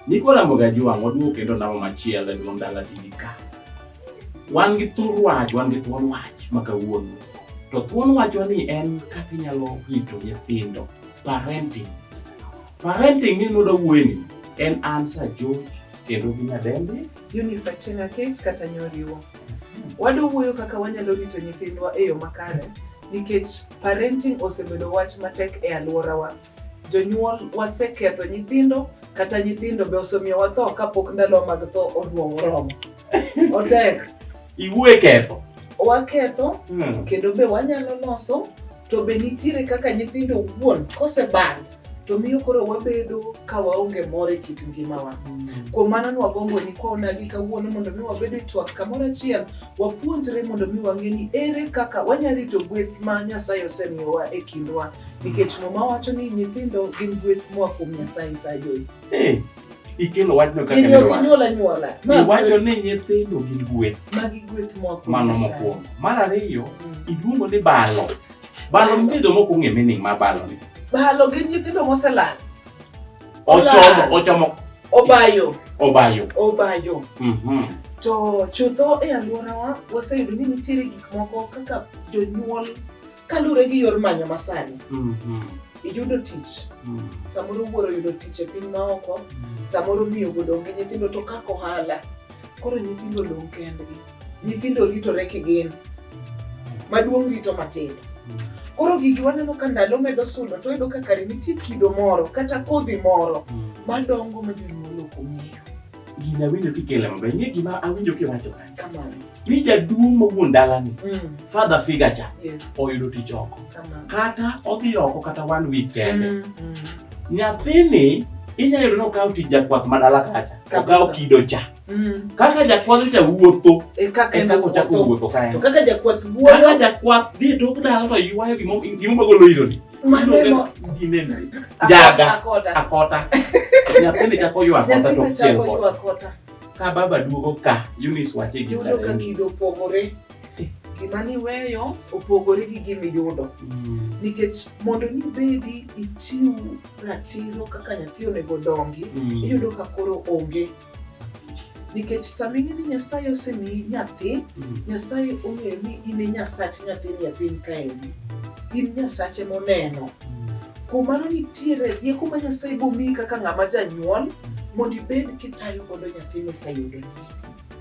Niko Ramoga ji wang' waduogo kendo namo machielo e duong' dala TV ka. Wan gi thur wach, wan gi thuon wach ma kawuono. To thuon wachwa ni en kaka inyalo rito nyithindo, parenting. Parenting ni nudo wueni en answer George kendo gi nyadende. Eunice Achieng' Akech kata Nyoriwo. Wadwa wuoyo kaka wanyalo rito nyithindwa e yo makare Nikech parenting osebedo wach matek e aluorawa, jonyuol waseketho nyithindo kata nyithindo be osemiyo watho kapok ndalowa mag tho oduong' oromo. Otek. Iwuoye ketho. Waketho hmm. kendo be wanyalo loso to be nitiere kaka nyithindo wuon koseband to miyo koro wabedo ka waonge mor e kit ngimawa. Mm. Kuom mano ni wagombo ni kwa onagi kawuono mondo mi wabed e twak kamoro achiel, wapuonjre mondo mi wang'e ni ere kaka wanyalo rito gweth ma Nyasaye osemiyowa e kindwa. Nikech Muma wacho ni nyithindo gin gweth moa kuom Nyasaye sajoyi. Eh, ikelo wachno kaka ne wach. Inyuol anyuola. Iwacho ni nyithindo gin gweth. Magi gweth moa kuom Nyasaye. Mano mokwongo. Mar ariyo, mm. iluongo ni balo. Balo nitie joma ok ong'e meaning mar balo ni. Balo gin nyithindo moselal. Ochomo, ochomo. Obayo. Obayo. Obayo. Mhm. To chutho e alworawa waseyudo ni nitiere gik moko kaka jonyuol kaluwore gi yor manyo masani. Mhm. Iyudo tich. Mhm. Samoro wuoro yudo tich e piny maoko, mhm. samoro miyo wuodo onge nyithindo to kaka ohala. Koro nyithindo olong kendgi. nyithindo ritore kigin maduong' rito matindo koro gigi waneno ka ndalo medo sudo to yudo ka kare nitie kido moro kata kodhi moro madongo ma jonyuol ok ong'eyo gini awinjo kikele maber ing'e gima awinjo kiwacho ka kamano ni jaduong' ma wuon dalani Mm, father figure cha yes oyudo tich oko kamano kata odhi oko kata one week kende Mm, mm. nyathini inyalo yudo ni okawo tich jakwath madala kacha Kabisa. okawo kido cha Mm. Kaka jakwath cha wuotho e kaka e kaka ochako wuotho kae. To kaka jakwath wuotho. Kaka jakwath dhi to kudala to ywayo gimo gimo magolo ilo ni. Maneno ginena. Jaga akota. Akota. Nyathini chako ywa akota to chiel kota. Ka baba duogo ka Eunice wache gi dala. Yudo ka kido opogore. Gima niweyo opogore gi gima iyudo. Mm. Nikech mondo nibedi ichiw ratiro kaka nyathi onego dongi, mm. iyudo ka koro onge. nikech sama ing'e ni nyasaye osemiyi nyathi mm. nyasaye ong'eyo ni in e nyasach nyathini e piny kaendi in nyasache moneno mm. kuom mano nitiere rieko ma nyasaye bomiyi kaka ng'ama janyuol mondo ibed kitayo godo nyathi miseyudoni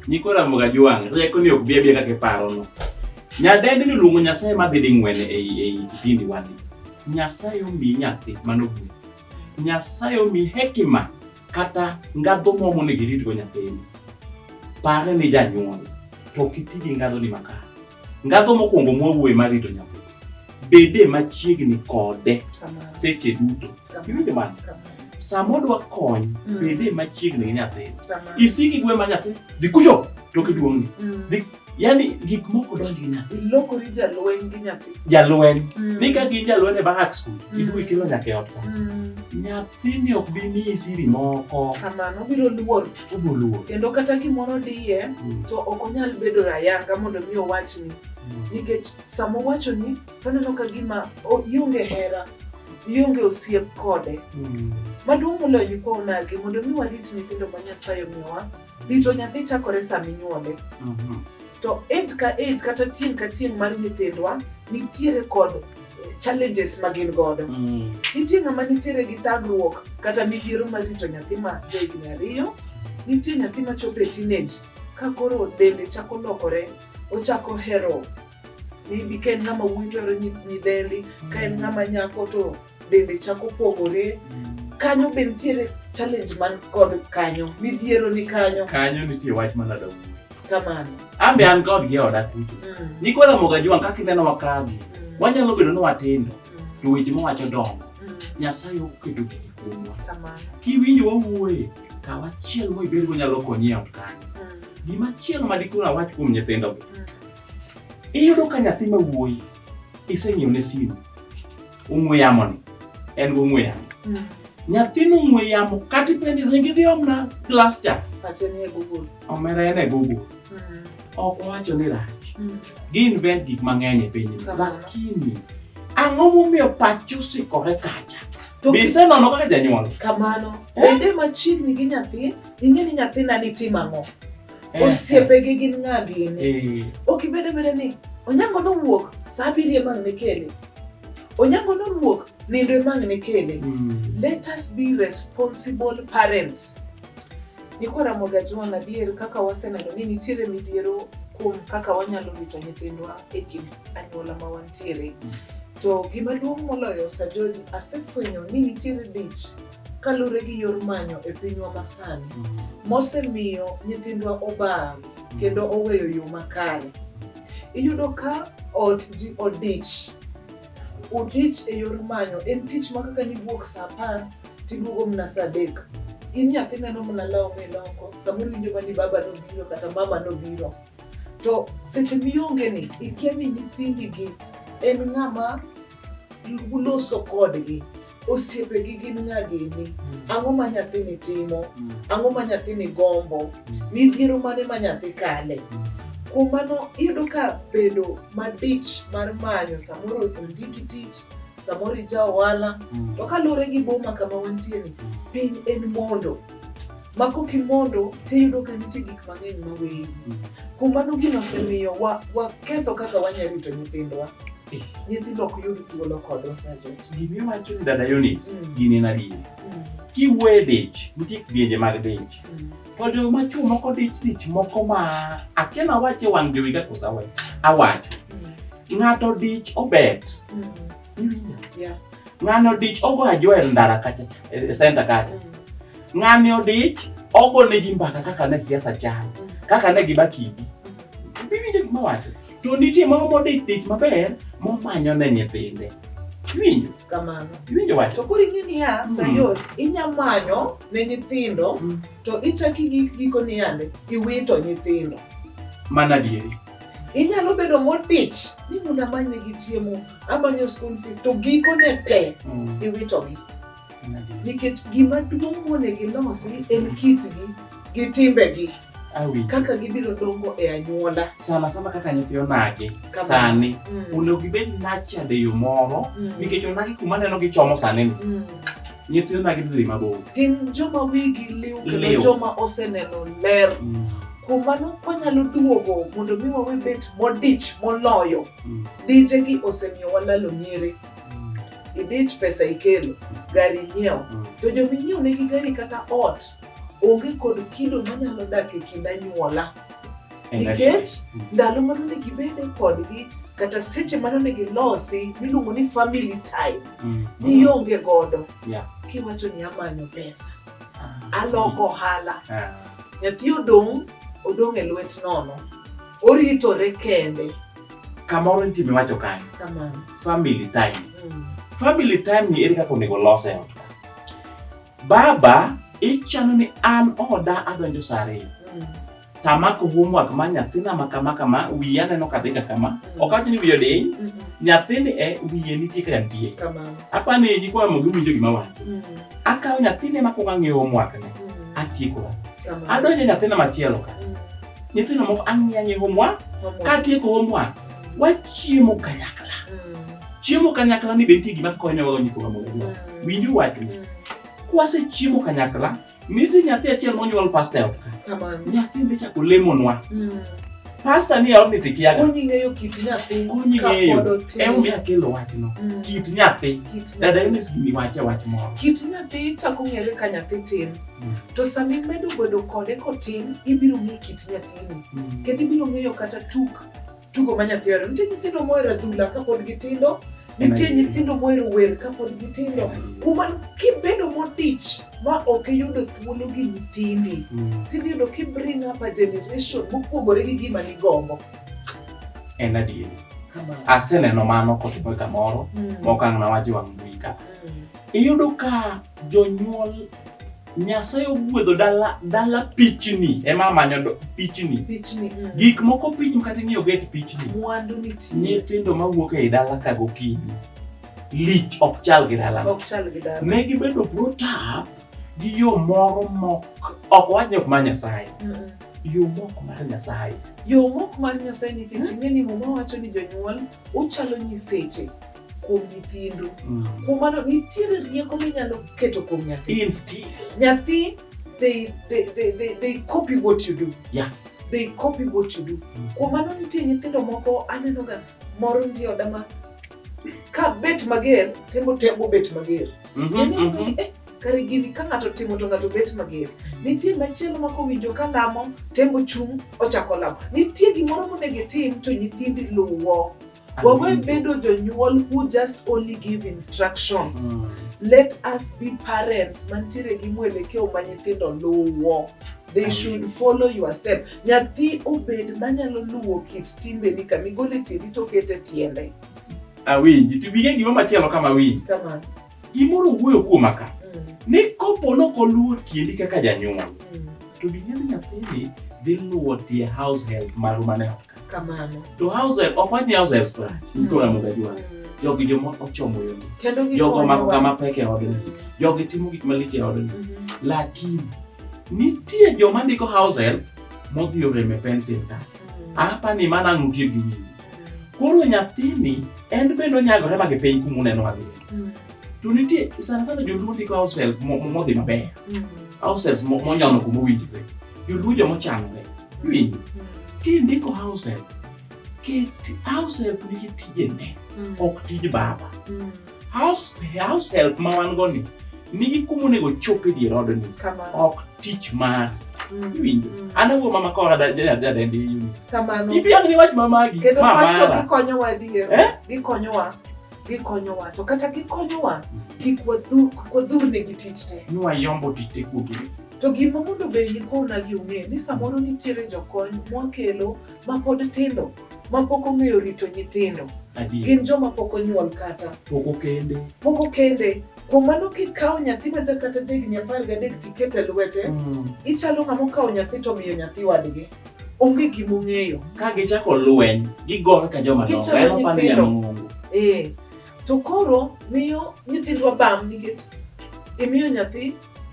niko ramoga jwang' rieko ni ok bi abia kaka iparono nyadendi ni luongo nyasaye madhi ding'wene ei kipindi wani nyasaye omiyi nyathi mano buk Nyasaye omi hekima kata ngadho moro monego iritgo nyathini. Pare ni janyuol to ok iti gi ngadhoni makare. Ngadho mokwongo mwawuoye mar rito nyathi, bede machiegni kode seche duto. Iwinjo mano? Sama odwa kony, bede machiegni gi nyathini. Isiki gwe ma nyathi, dhi kucho, to kiduong'ni. Dhi yani gik moko donjo nyathi ilokori jalweny gi nyathi jalweny mm. ni ka gin jalweny e bahak skul mm. iduwi kilo nyaka e ot ka mm. nyathini ok bi miyi siri moko kamano obiro luor obiro luor kendo kata gimoro diye mm. to ok onyal bedo rayanga mondo mi owachni mm. nikech sama owachoni to neno ka gima ionge hera ionge osiep kode mm. maduong' moloyo nyikwa onagi mondo mi warit nyithindo ma nyasaye omiyowa Rito nyathi chakore sama inyuole. Mhm. To age ka age kata tieng' ka tieng' mar nyithindwa nitiere kod eh, challenges ma gin godo. Mm. Nitie ng'ama nitiere gi thagruok kata midhiero mar rito nyathi ma johigni ariyo. Nitie nyathi ma chopo e teenage ka koro dende chako lokore, ochako hero maybe ka en ng'ama wuoyi to ohero nyi- nyidendi, ka en ng'ama nyako to dende chako pogore kanyo be nitiere challenge man kod kanyo midhiero ni kanyo kanyo nitie wach mana dog kamano an be an god gi oda kucho mm. ni kwa mo gajuan ka kineno wakagi mm. wanyalo bedo ni watindo mm. to weche mowacho dongo mm. nyasaye oketo gigi kuomwa kiwinjo wawuoye kaw achiel mo ibed go nyalo konyi e kanyo mm. gima chielo ma dikoro awach kuom nyithindo mm. iyudo ka nyathi ma wuoyi iseng'iew ne simu ong'we yamoni en gi ong'we yamo Mm. nyathini ong'we yamo kata ipenjo ringi dhi omna glas cha Pache ni e Google. omera en e google Mm. ok owacho ni rach Mm. gi-invent gik mang'eny e pinyni Kamano. lakini ang'o momiyo pachi osikore kacha To be isenono kaka janyuol kamano Eh? bende machiegni gi nyathi ing'e ni nyathina ni tim ang'o Eh, osiepegi gin ng'a gini eh, ok ibed abeda ni onyango nowuok saa abiriyo emang' ne kele Onyango nowuok nindo emang' ne kele. Mm. Let us be responsible parents. Niko Ramogi Ajwang' adier kaka waseneno ni nitiere midhiero kuom kaka wanyalo rito nyithindwa e kind anyuola ma wantiere. Mm. To gima duong' moloyo Sajoji asefwenyo ni nitiere dich kalure gi yor manyo e pinywa masani mm. mosemiyo nyithindwa obam mm. kendo oweyo yo makare. Iyudo ka ot ji odich, odich e yor manyo. En tich ma kaka niwuok sa apar tiduogo mna sa adek. In nyathi neno mna law miloko, samoro iwinjo mana ni baba nobiro kata mama nobiro. To seche mionge ni, ikia ni nyithindi gi en ng'ama Luwu loso kodgi. Osiepegi gin ng'a gini? Ang'o ma nyathini timo? Ang'o ma nyathini gombo? Midhiero mane ma nyathi kale? Kuom mano iyudo ka bedo madich mar manyo samoro ondiki tich, samoro ija ohala, to kaluwore gi boma kama wantieni, piny en mondo. ma kok imondo tiyudo ka nitie gik mang'eny ma weyi. Kuom mano gino osemiyo wa- waketho kaka wanyalo rito nyithindwa. Nyithindo ok yud thuolo kodwa sajent. Gima iwacho ni dada Eunice, Mm. gini en adier. Mm, Kiwuoye dich, nitie kidienje mag dich. mm. To jo ma chwo moko dich dich moko ma akia nawache wang' jowi ka kosa we. Awacho. Ng'ato dich obet. Mm, Yeah. Ng'ano dich ogo ajoel ndara kacha cha, e, e center kacha. Ng'ani odich ogo ne gi mbaka kaka ne siasa chal, kaka ne giba kidi. Biwinjo gima wacho. To nitie moro modich dich maber momanyo ne nyithinde. Iwinjo? Kamano. Iwinjo wacho? To koro ing'e niya, Mm. Sayot, inya manyo ne nyithindo Mm. to ichaki gi giko niyande iwito nyithindo. Mana adieri. Inyalo bedo modich ni mondo amanye gi chiemo, amanyo school fees to gikone pe Mm. iwitogi. Nikech gima duong' monego ilosi en kitgi gi timbegi Awinjo. kaka gibiro dongo e anyuola. Sana sana kaka nyithi onagi Kama. sani Mm. onego gibed nurtured e yo moro Mm. nikech onagi kuma neno gichomo sani ni Mm. nyithindo dagi dhi mabor gin joma wigi liw kendo Liw. joma oseneno ler Mm, kuom mano kwanyalo duogo mondo mi wawe bet modich moloyo mm, dijegi osemiyo walalo nyiri mm, idich pesa ikelo gari inyiewo mm. to jominyiewo negi gari kata ot onge kod kido manyalo dak e kind anyuola nikech ndalo mano ne gibede kodgi kata seche mano ne gilosi miluongo ni family time mm. nionge godo kiwacho ni amanyo pesa ah. aloko ohala ah. nyathi odong' odong' e lwet nono oritore kende kamoro nitie miwacho kanyo family time mm. family time ni ere kaka onego lose ot Baba, ichano ni an oda adonjo saa ariyo. Mm. Tamako homework ma nyathina ma kama kama, wiye aneno ka dhi ka kama. Mm. Ok awacho ni wiye odiny, mm-hmm. nyathini e wiye nitie ka nitie. Apa ni nyikwa mogi winjo gima wacho. Mm. Akawo nyathini ma kuongo ang'iyo homework ne, atieko. Adonjo nyathina machielo ka. Nyithindo moko ang'iyo ang'iyo homework, katieko homework. wachiemo kanyakla chiemo kanyakla ni be nitie gima kaka wanyalo donjo kuom amolewa winju wachni kwasechiemo kanyakla nitie nyathi achiel monyuol pasta e ot ka nyathi be chako lemonwa pasta ni e odni to ikiaga Konyi ng'eyo kit nyathi konyi kapod ng'eyo otin. emomiyo akelo wachno Mm. kit nyathi Kit nyathi. dada enes gini wache wach moro kit nyathi chako ng'ere ka nyathi tin Mm. to sama imedo bedo kode kotin ibiro ng'e kit nyathini kendo ibiro ng'eyo kata tuk tugo ma nyathi ohero. Nitie nyithindo mohero adhula kapod gitindo, nitie nyithindo mohero wer kapod gitindo. Kuom mano, kibedo modich ma ok iyudo thuolo gi nyithindi, Mm. tidhi yudo ki bring up a generation mopogore gi gima nigombo. En adieri. Kamano. Aseneno mano kotimore kamoro, Mm. mokang' nawacho wang' mbui ka. Mm. Iyudo ka jonyuol Nyasaye ogwedho dala dala pichni ema manyo do- pichni. Pichni. mm. Gik moko pichni kata ing'iyo get pichni. Mwandu nitie. Nyithindo mawuok ei dala ka gokinyi. Lich ok chal gi dala. Ok chal gi dala. Ne gibedo protap gi yo moro mok ok wach ni ok mar Nyasaye. Mm, mm. Yo mok mar Nyasaye. Yo mok mar Nyasaye nikech ing'e ni muma wacho ni jonyuol uchalo nyiseche kuom nyithindu mm. kuom mano nitiere rieko minyalo keto kuom nyathi nyathi they, they, they, they, they copy what you do yeah. they copy what you do mm. kuom mano nitie nyithindo moko anenoga moro ndi oda ma ka bet mager temo temo bet mager mm -hmm, mm -hmm. kare gini ka ng'ato timo to ng'ato bet mager. Nitie machielo ma kowinjo ka lamo tembo chung' ochako lamo. Nitie gimoro monego itim to nyithindi luwo. Wawe bedo jonyuol who just only give instructions. Mm. Let us be parents mantiere gi mwelekeo ma nyithindo luwo. They should follow your step. Nyathi obed manyalo luwo kit timbeni kama igole tiendi to okete tiende. Awinji. To bige gima machielo kama awinji. Kamano. Gimoro wuoyo kuoma ka ni kopo nok oluwo tiendi kaka janyuol to dinyal nyathini dhi luwo tie house help maru mane ot ka kamano to house help ok wach ni house help scratch niko na muga jwa jogi joma ochomo yo kendo gi jogo mako kama pek e odni jogi timo gik malich e odni lakini nitie joma ndiko house help modhi oreme pensil kacha apa ni mana ng'utie gi wiyi koro nyathini en bende onyagore ma gi piny kumuneno adhiye Mm. To nitie sana sana joluo ndiko househelp modhi maber. Mm. Househelps monyono kuma owinjore. Joluo joma ochanore. Iwinjo? Mm. Kindiko househelp, ket househelp nigi tijene, mm. ok tij baba. Mm. House, househelp ma wan go ni nigi kuma onego chop e dier odni, ok tich mar mm. iwinjo mm. an awuo mama kora dadendi yuni ipiang ni wach mamagi kendo pacho gikonyowa adier eh? gikonyowa gikonyowa to kata gikonyowa kik wadhu- kik wadhurnegi tich te ni wayombo tich te kuogi to gima mondo be nikona gi ung'e ni samoro nitiere jokony mwakelo ma pod tindo ma pok ong'eyo rito nyithindo adier gin joma pok onyuol kata poko kende pok okende kuom mano kikawo nyathi ma ja- kata jahigni apar gadek tikete lwete Mm. ichalo ng'ama okawo nyathi to miyo nyathi wadgi onge gima ong'eyo. Ka gichako lweny, gigore ka joma dongo. Gichalo Ema pande nyithindo. nyamung'ungu. Eh, to koro miyo nyithindwa bam nikech imiyo nyathi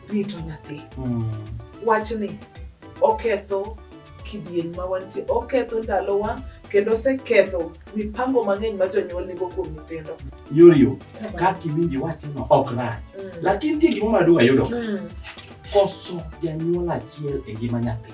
rito nyathi. Mm. Wachni oketho kidieny ma wantie, oketho ndalowa kendo oseketho mipango mang'eny ma jonyuol nigo kuom nyithindo. Yorio, kaka iwinjo iwacheno ok rach. Mm. Lakini nitie gima madung' ayudo. Mm. Koso janyuol achiel e ngima nyathi.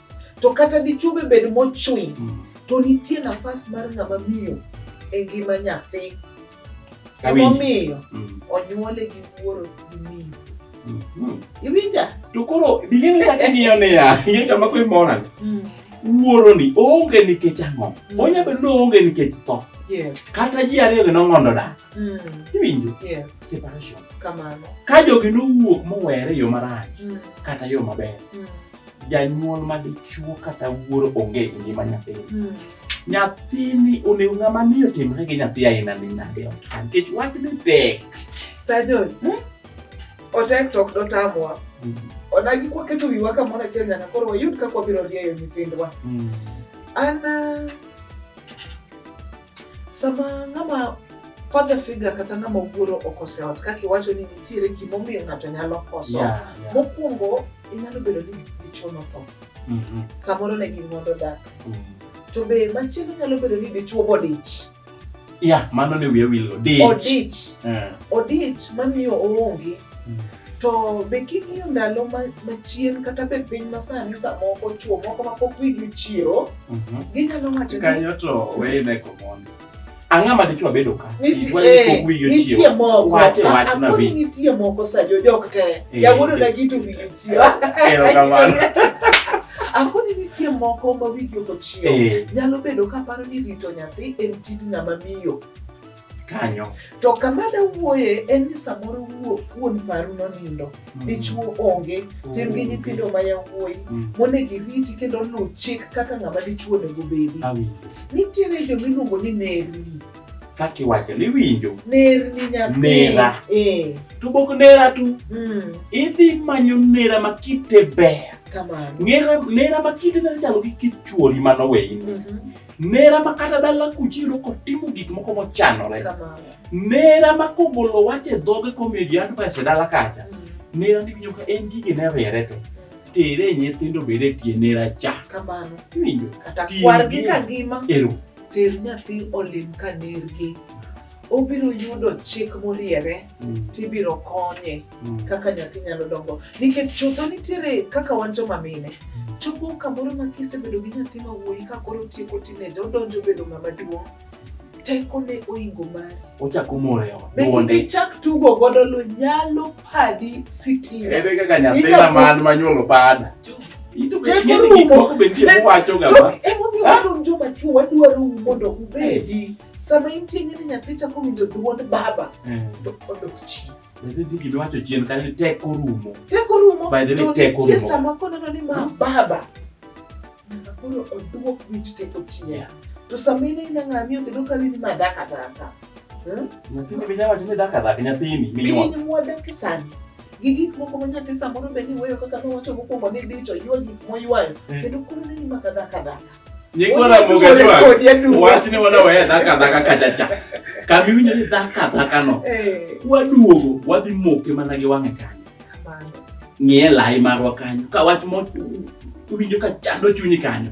to kata dichwo be bed mochwiny mm. to nitie nafas mar ng'ama miyo e ngima nyathi emomiyo mm. onyuole gi wuoro gi miyo mm-hmm. iwinja to koro bilini kaka ng'iyo niya ing'e kama kwe mora mm. wuoro ni oonge nikech ang'o mm. onya bedo ni oonge nikech tho kata ji ariyo gi nong'ondo dak iwinjo separation ka jogi nowuok mowere yo marach kata yo maber janyuol ma dichuo kata wuoro onge e ngima nyathini hmm. nyathini onego ng'ama miyo timre gi nyathi aina ni nade ot nikech wach ni tek sajon hmm? otek to ok dotamwa hmm. odagi kwaketo wiwa kamoro achiel nyaka koro wayud kaka wabiro rieyo nyithindwa an ah, Sama ng'ama father figure kata ng'ama wuoro okose ot kaka iwacho ni nitiere gimomiyo ng'ato nyalo koso yeah, yeah. mokwongo inyalo bedo ni dichuo notho mm -hmm. samoro ne gin mondo dak mm -hmm. to be machielo nyalo bedo ni dichuo bodich yeah, mano ne wiye wilo odich odich, yeah. odich mamiyo oonge mm. To be king'iyo ndalo machien kata be piny masani samoko chuo moko mapok wigi chiro, mhm. ginyalo wacho ni... Kanyo to weyne komondo. Ang'a ma dichwa bedo ka. Eh, nitie moko. Wache wach na bi. Nitie moko sa jo jok te. Eh, Yawuodo na gitu wigi chiro. Erokamano. Akoni nitie moko ma wigi ok ochiew. Eh. Nyalo bedo ka paro ni rito nyathi en tij ng'ama miyo. kanyo to kama dawuoye en ni samoro wuon paru nonindo mm. dichuo onge mm. tin gi nyithindo ma yawuoyi mm. monego iriti kendo luw chik kaka ng'ama dichuo onego bedi nitiere jo miluongo ni nerni kaki wacho ni winjo nerni nyathi nera eh. to bok nera tu idhi manyo nera ma kite ber nera ma kite nera chalo gi kit chuori manoweyi mhm. nera ma kata dala kuchiro kotimo gik moko mochanore nera ma kogolo wach e dhoge komiyo ji advice e dala kacha mm. nera niwinjo ka en gige ne riere te tere nyithindo bed e tie nera cha kamano iwinjo kata kwargi ka ngima ero ter nyathi olim ka nergi obiro yudo chik moriere mm. tibiro konye mm. kaka nyathi nyalo dongo nikech chutho nitiere kaka wan joma mine mm. chopo kamoro ma kisebedo gi nyathi ma wuoyi ka koro tieko teenage odonjo bedo ng'ama duong' tekone oingo mari ochako moyo duonde ichak tugo godo lo nyalo padi sitima ebe kaka nyathi ma man manyuolo pada Emomiyo wadonjo machuo wadwaro mondo ubedi sama intie nyiri nyathi chako winjo dwond baba eh. to odok chien giwacho chien kanyo teko rumo teko rumo to nitie sama koneno ni ma baba nyaka koro oduok wich teko chien to sama ine ina ng'amiyo kendo kani ni ma daka daka hmm? nyathini binya wacho ni daka daka nyathini piny mwadake sani gi gik moko ma nyathi samoro be ni weyo kaka nowacho mokwongo ni dicho ywa gik moywayo eh. kendo koro neni ma kadhakadhaka Niko na muga jwa. Wachne wana waya dhaka dhaka kachacha. Kami winyo ni dhaka dhaka no. Waduogo, wadhi moke mana gi wang'e kanyo. Ng'e lai marwa kanyo. Ka wach mo winjo ka chando chunyi kanyo.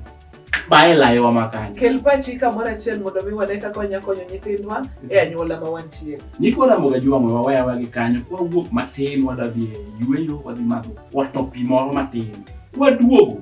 Bae lai wa makanyo. Kel pachi kamoro achiel mondo mi wane kaka wanya konyo nyithindwa e anyuola ma wantie. Niko na muga jwa mwa waya wagi kanyo. Kwa wuok matin wadadhi e yueyo wadhi madho. Watopi moro matin. Waduogo.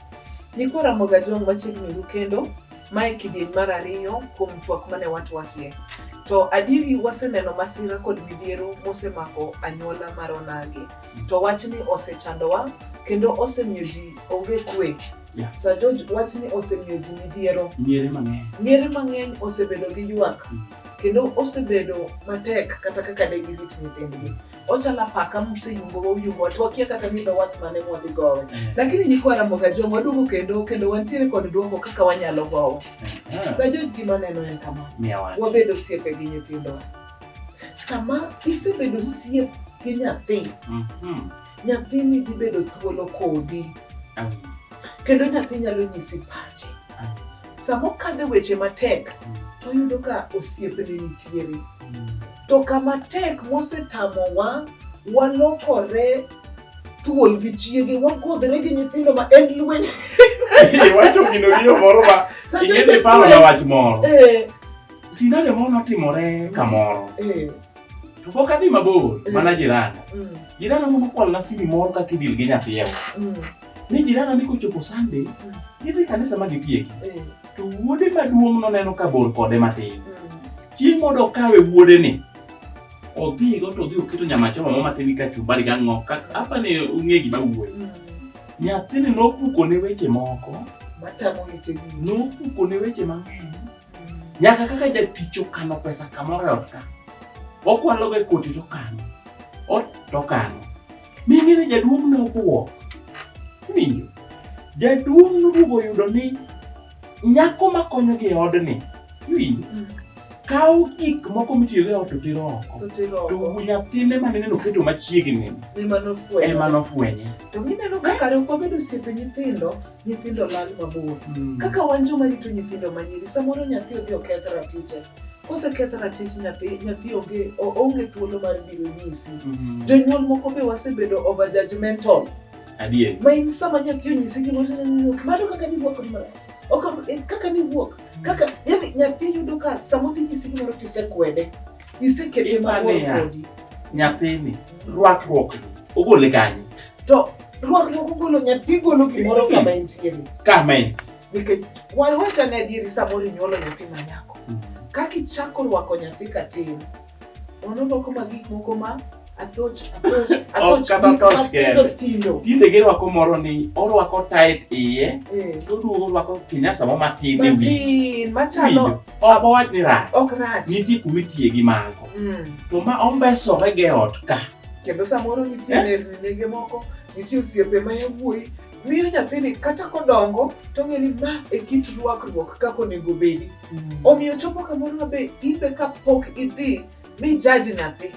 Nyikwa Ramogi Ajong' machiegni ru kendo, mae kidieny mar ariyo kuom twak mane watwakie. To adieri waseneno masira kod midhiero mosemako anyuola mar onagi. To wachni osechandowa kendo osemiyo ji onge kwe. Yeah. Sir George, wachni osemiyo ji midhiero. Miere mang'eny. Miere mang'eny osebedo gi ywak kendo osebedo matek kata kaka de girit nyithindgi. ochala paka museyumbo wayumbo watu wakia kata ni dho wath mane mwadhi gowe mm. lakini nyikwa Ramoga Joma waduogo kendo kendo wantiere kod duoko kaka wanyalo gowe mm. sa George gima neno en kama wabedo osiepe gi nyithindowa sama isebedo osiep gi nyathi mm-hmm. nyathini dhi bedo thuolo kodi kendo nyathi nyalo nyisi pache sama okadhe weche matek mm. to oyudo ka osiepene nitiere mm. To kama tek mosetamowa, walokore thuol gi chiege, wagodhre gi nyithindo ma en lweny. Iwacho gino riyo moro ma ing'e paro na wach moro. Eh. Sinane moro notimore kamoro. Eh. To pok adhi mabor, eh. mana jiranda. Mm. Jiranda moro nokwalona simi moro kaka idil gi nyathiewa. Mm. ni jirana ni kochopo Sunday mm. idhi kanisa ma gitieki mm. to wuode maduong' noneno ka bor kode matin mm. chieng' mondo okawe wuode ni odhigo to odhi oketo nyamachoma mo matin gi kachumbari gi ang'o apa ni ong'e gima wuoyi mm. nyathini nopuko ne weche moko nopuko ne weche mang'eny Nyaka kaka jatich okano pesa kamoro e ot ka, okwalogo e koti to okano, ot to okano. Ming'e ni jaduong' ne obwok. Winjo, jaduong' noduogo oyudo ni nyako ma konyogi e odni, iwinjo, mm. kawo gik moko mitiyogo e ot to tero oko. To nyathine ma nene noketo machiegni ema nofwenye. To gineno ka kare ok wabedo osiepe nyithindo. nyithindo lal mabor. Mm. Kaka wan joma rito nyithindo manyiri, samoro nyathi odhi oketh ratiche. Koseketh ratich nyathi, nyathi onge onge thuolo mar biro nyisi. Mm. Jonyuol moko be wasebedo over judgmental. Adier. Ma in sama nyathi onyisi gimoro to nyathi ok mano kaka ni wuok ni marach. Ok eh, kaka ni wuok. Kaka yani nyathi yudo ka sama odhi nyisi gimoro to isekwede. isekete mabor kodi nyathini rwakruok ogole kanye to rwakruok ogolo nyathi golo gimoro hmm. kama entiere kama en nikech wan wachane adieri samoro inyuolo nyathi manyako hmm. kaka ichako rwako nyathi katin onono koma gik moko ma Atoch, atoch, Ok atoch. kata gik atoch matindo kende. tindo. Tinde girwako moro ni orwako tight iye Eh, to oduogo orwako kinyasa moro matin e wiye. Matin, machalo Winjo? Ok owach ni rach. ok rach. Nitie kuma itiye gi mago. Mm. To ma ombesore ge ot ka. Kendo samoro nitie Eh? nerni nege moko, nitie osiepe ma yawuoyi miyo nyathini kata kodongo to ng'e ni ma e kit rwakruok kaka onego obedi. Omiyo chopo kamoro ma be in be kapok idhi mi jaji nyathi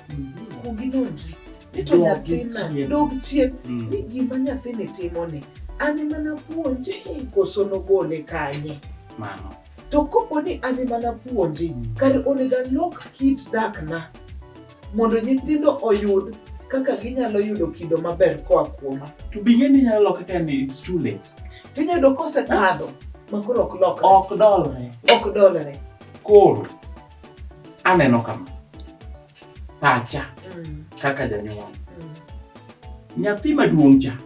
kuongi nonri ni to nyathina dog chien mm. ni gima nyathini timoni an ema napuonje koso nogole kanye mano to kopo ni an ema napuonje mm. kare onego alok kit dakna mondo nyithindo oyud kaka ginyalo yudo kido maber koa kuoma to bing'e ni nyalo loka ka ni it's too late tinyayudo kosekadho makoro ok lokre ok dolre ok dolre koro aneno kama pacha mm. kaka janyuol mm. nyathi maduong' cha mm.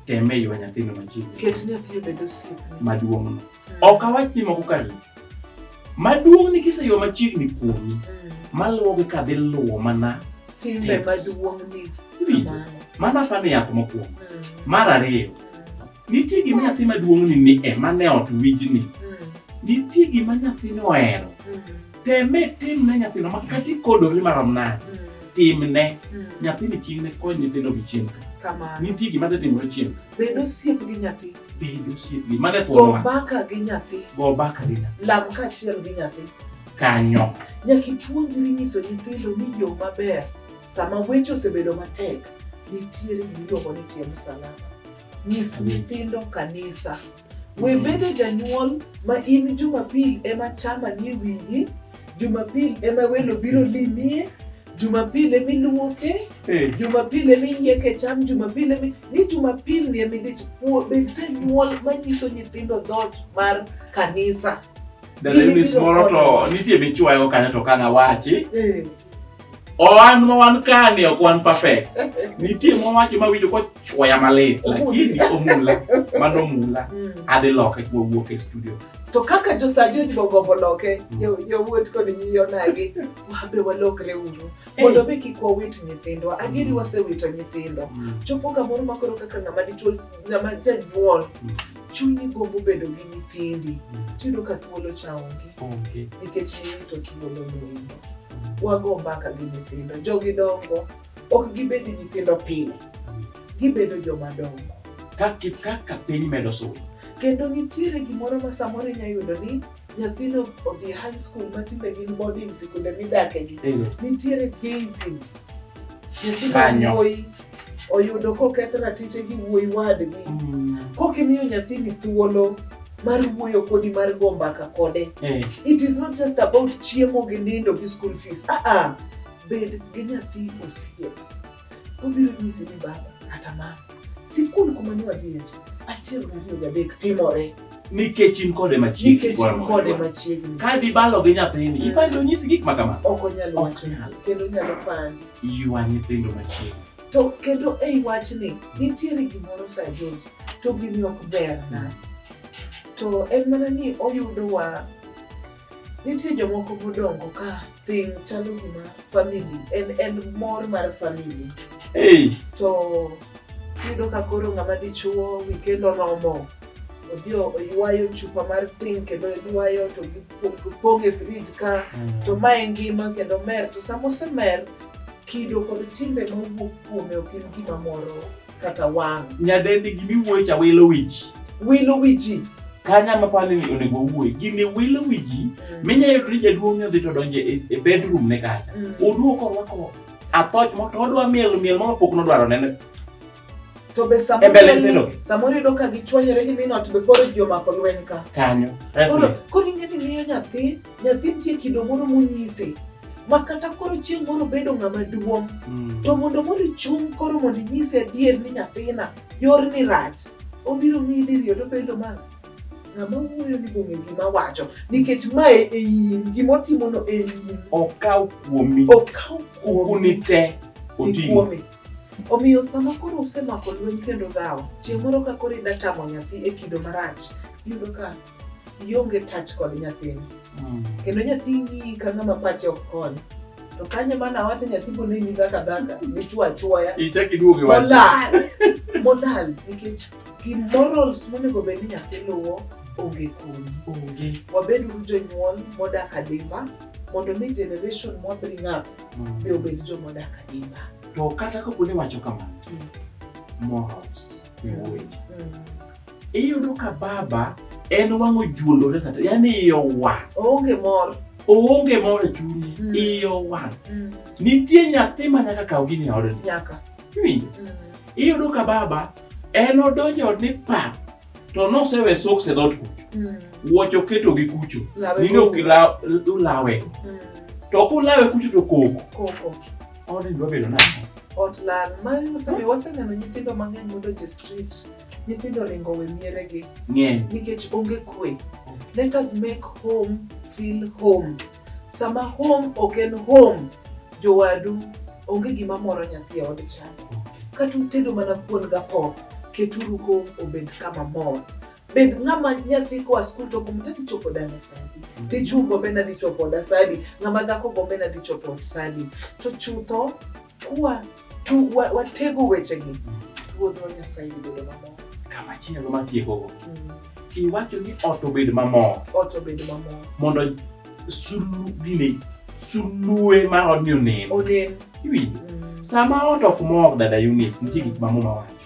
teme ywa nyathino machiegnimaduong'no ok awach ni moko kar richo maduong' ni kiseywa machiegni kuomi maluwogi ka dhi luwo mana mana fano yath mokuongo mar ariyo Nitie gima nyathi maduong'ni ni ema ne ot wijni. Mm. Nitie gima nyathino ohero. Mm. Teme timne nyathino ma kata ikodori marom nade. Mm. Timne. Mm. Nyathini chieng' ne kony nyithindo gi chieng' ka. Kamano. Nitie gima dhi timore chieng'. Bed osiep gi nyathi. Bed osiep gi mane thuolo Go wach. mbaka gi nyathi. Go mbaka gi nyathi. Lam kaachiel gi nyathi. Kanyo. Nyaka ipuonjri nyiso nyithindo ni yo maber sama weche osebedo matek nitiere gimiluongo ni tie msalaba. Nyis nyithindo kanisa. We bende janyuol ma in Jumapil ema chama ni wiyi, Jumapil ema welo biro limie, Jumapil ema iluoke, eh. Jumapil ema iyieke cham, Jumapil ema ni Jumapil ni ema idich bed janyuol manyiso nyithindo dhoot mar kanisa. Dalemi moro to nitie michwayo kanyo to kanawachi. Eh. Owan ma wan kani ok wan perfect. Nitie mowacho ma winjo kochwoya malit lakini omula mano omula Mm. adhi loke wawuok e studio. To kaka josajoji bogombo loke, jo- jowuot kod nyiyonagi, wabe walokre uru. Mondo mi kik wawit nyithindwa. Adieri wasewito nyithindo. Chopo kamoro ma koro kaka ng'ama dichwo, ng'ama janyuol, chunyi gombo bedo gi nyithindi mm. tiyudo ka thuolo cha onge nikech irito thuolo moingo wago mbaka gi nyithindo jogi dongo ok gibedi nyithindo pile mm. gibedo joma dongo kaka piny medo sudo kendo nitiere gimoro ma samoro inya yudo ni nyathino odhi high school ma tinde gin boarding sikunde midakegi nitiere gazing nyathino wuoyi oyudo koketh ratiche gi wuoyi wadgi mm. kokimiyo nyathini thuolo mar wuoyo kodi mar go mbaka kode eh. it is not just about chiemo gi nindo gi school fees aa ah, ah. bed gi nyathi osiep obiro nyisi ni baba kata mama sikul kuma ne wadhiye cha achiel gariyo gadek timore nikech in kode machiegni nikech in kode machiegni ka dibalo gi nyathini mm. ipani onyisi gik ma kama ok onyal wacho kendo onyalo pandi ywa nyithindo machiegni to kendo ei wachni nitiere gimoro sa George to gini ok ber na to en mana ni oyudowa Nitie jomoko modongo ka piny chalo gima famili en en mor mar famili. Hey. To yudo ka koro ng'ama dichuo wikend oromo odhi oywayo chupa mar piny kendo oywayo to gipong' e frij ka mm. to ma en ngima kendo mer to sama osemer kido kod timbe mowuok kuome ok en gima moro kata wang'. Nyadendi gimi wuoyi cha wilo wiji. Wilo wiji. Kanya ma pale ni onego wuoyi gini wilo wiji mm. minya yudo ni jaduong' ne odhi to donje e, e bedroom ne kata. Mm. Oduoko orwako athoch mo to odwa miel miel mo pok nodwaro nene. To be samoro samoro yudo ka gichwanyore gi mino to be koro jomako lweny ka. Kanyo. Koro koro ing'e ni miyo nyathi nyathi nitie kido moro monyise ma kata koro chieng' moro bedo ng'ama duong' mm. to mondo moro ichung' koro mondo inyise adier ni nyathina yorni rach obiro ng'iyi diriyo to bedo ma ng'ama wuoyo ni bong'e gima wacho nikech mae e in gima otimono e in okaw kuomi okaw kuomi te oting'o omiyo sama koro usemako lweny kendo dhawo chieng' moro ka koro idatamo nyathi e kido marach iyudo ka ionge touch kod nyathini mm. kendo nyathi ng'iyi ka ng'ama pache ok kony to kanye mana awacho nyathi bo neni dhaka dhaka dichwo achwoya molal molal nikech gi morals monego bed ni nyathi luwo onge kuomi wabed uru jonyuol modak adimba mondo mi generation mwa bring up mm. be obed jomodak adimba to kata kapo ni wacho kamano morals iwuoyi mm. iyudo ka baba en wang'o juondore sata yani iye owang' oonge mor oonge mor e chunye Mm. iye owang' Mm, nitie nyathi ma nyaka kaw gini e odni nyaka Iwinjo? Mm, iyudo ka baba en odonjo e odni pa to nosewe soks e dhot kucho mm, wuoch oketo gi kucho lawe nini ok ila- ulawe Mm, to ok ulawe kucho to koko koko odni dwa bedo nang'o ot lal ma wasemi- waseneno nyithindo mang'eny modonjo e street nyithindo ringo we mieregi ng'eny nikech onge kwe let us make home feel home sama home ok en home jowadu onge gima moro nyathi e od chako kata utedo mana kuon gapok keturu home obed kama mor bed ng'ama nyathi koa skul to gombo tadhi chopo dala sadi dichwo gombe nadhi chopo oda sadi ng'ama dhako gombe nadhi chopo ot sadi to chutho Kwa tu wa, watego wechegi ruodhwa Nyasaye bedo mamor. Kama chielo matiekogo. Mm. Iwacho ni ot obed mamor. Ot obed mamor. Mondo sulu gini sulue ma odni onen. Onen. Iwinjo? Mm. Sama ot ok mor dada Eunice, nitie gik ma muma wacho.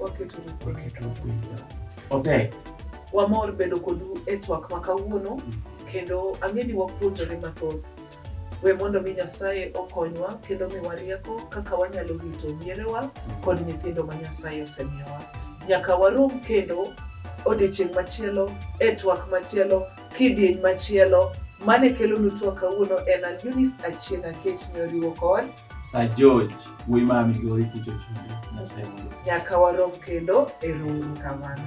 Waketuru kwe. Waketuru kwe. Ope. Wamor bedo kodu e twak ma kawuono kendo ang'e ni wapuonjore mathoth. We mondo mi Nyasaye okonywa kendo miwa rieko kaka wanyalo rito mierewa kod nyithindo ma Nyasaye osemiyowa. Nyaka warom kendo odiechieng' machielo e twak machielo kidieny machielo mane kelonu twak kawuono en an Eunice Achieng' Akech ne oriwo kod Sir George wuoyi ma Migori kucho chunde Nyasaye mondo nyaka warom kendo erouru kamano